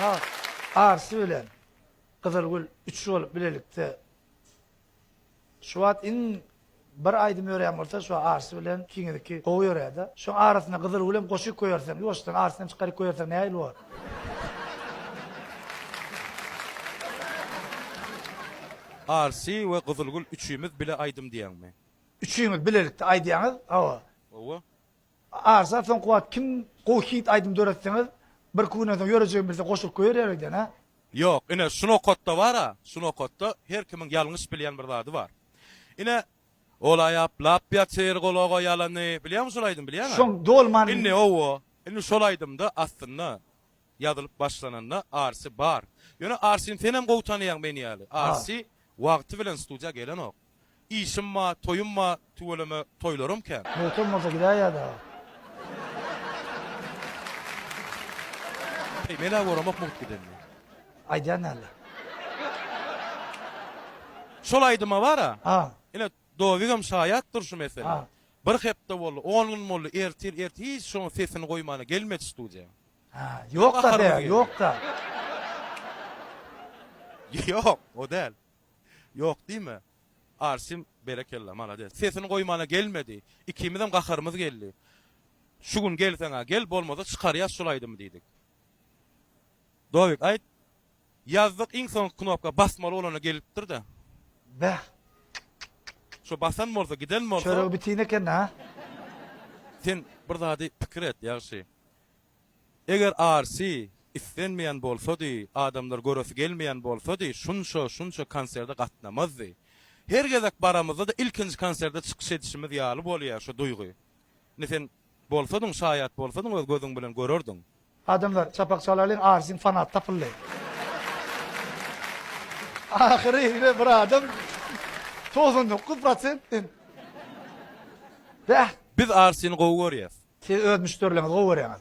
Ak arsy bilen Gyzylgül üç bolup bilelikde şu wagt iň bir aýdym ýörän bolsa şu arsy bilen ikiňizniki gowy ýöräde. Şoň arasyna Gyzylgül hem goşyp goýarsyň. Ýuwaşdan arsyny hem çykaryp goýarsyň nähili bolar? Arsy we Gyzylgül üçimiz bile aýdym diýäňmi? Üçiňiz bilelikde aýdýaňyz, hawa. Hawa. Arsa soňky wagt kim gowy hit aýdym döretseňiz birki günden soň ýörejegim bilse goşulyp goýer ýarydan a. Ýok ine şu nokatda bar a şu nokatda her kimiň ýalňyş bilýän bir zady bar ine Ola ýaplap ýatyr gulaga ýalany bilýäňmi şol aýdymy bilýäň a Şoň dolman. Indi owo indi şol aýdymda aslynda ýazylyp başlananda Arsy bar ýöne Arsyny senem gowy tanaýaň men ýaly Arsy wagty bilen studiýa gelenok. Işim ba, toýum ba, tüweleme toýlarym kän. Möhkem bolsa gidäýýä dagy. Heý, men-ä göremok mugt gidenini. Aýdýan däldir. Şol aýdyma bar-a. A. Ine, Dowigem şaýatdyr şu meselä. A. Bir hepde boldy, on gün boldy, ertir, ert hiç şoň sesini goýmana gelmedi studiýa. A, ýok-da, be, ýok-da. Ýok, o däl. Ýok diýme. Arsim berekella malades. Sesini goýmana gelmedi. Ikimizem gaharymyz geldi. Şu gün gelseň-ä gel, bolmasa çykarýas şul aýdymy diýdik. Dowik aýt. Ýazdyk iň soňky knopka basmaly bolana gelipdir-de. Beh. Şo basan bolsa, giden bolsa. Çörek bitin eken-a. Sen bir zady pikir et ýagşy. Eger RC islenmeýän bolsady, adamlar göresi gelmeýän bolsady, şunça, şunça konserde gatnamazdy. Her gezek baramyzda-da ilkinji konserde çykyş edişimiz ýaly bolýar şu duýgy. Indi sen bolsadyň, şaýat bolsadyň öz gözüň bilen görerdiň. Adamlar, çapak çalalyň, RC-niň fanaty tapyldy. Ahyry ýene bir adam, togsan dokuz prosent men. Bäh! Biz Arsini gowy görýäs. Siz öz müşderilerňizi gowy görýäňiz.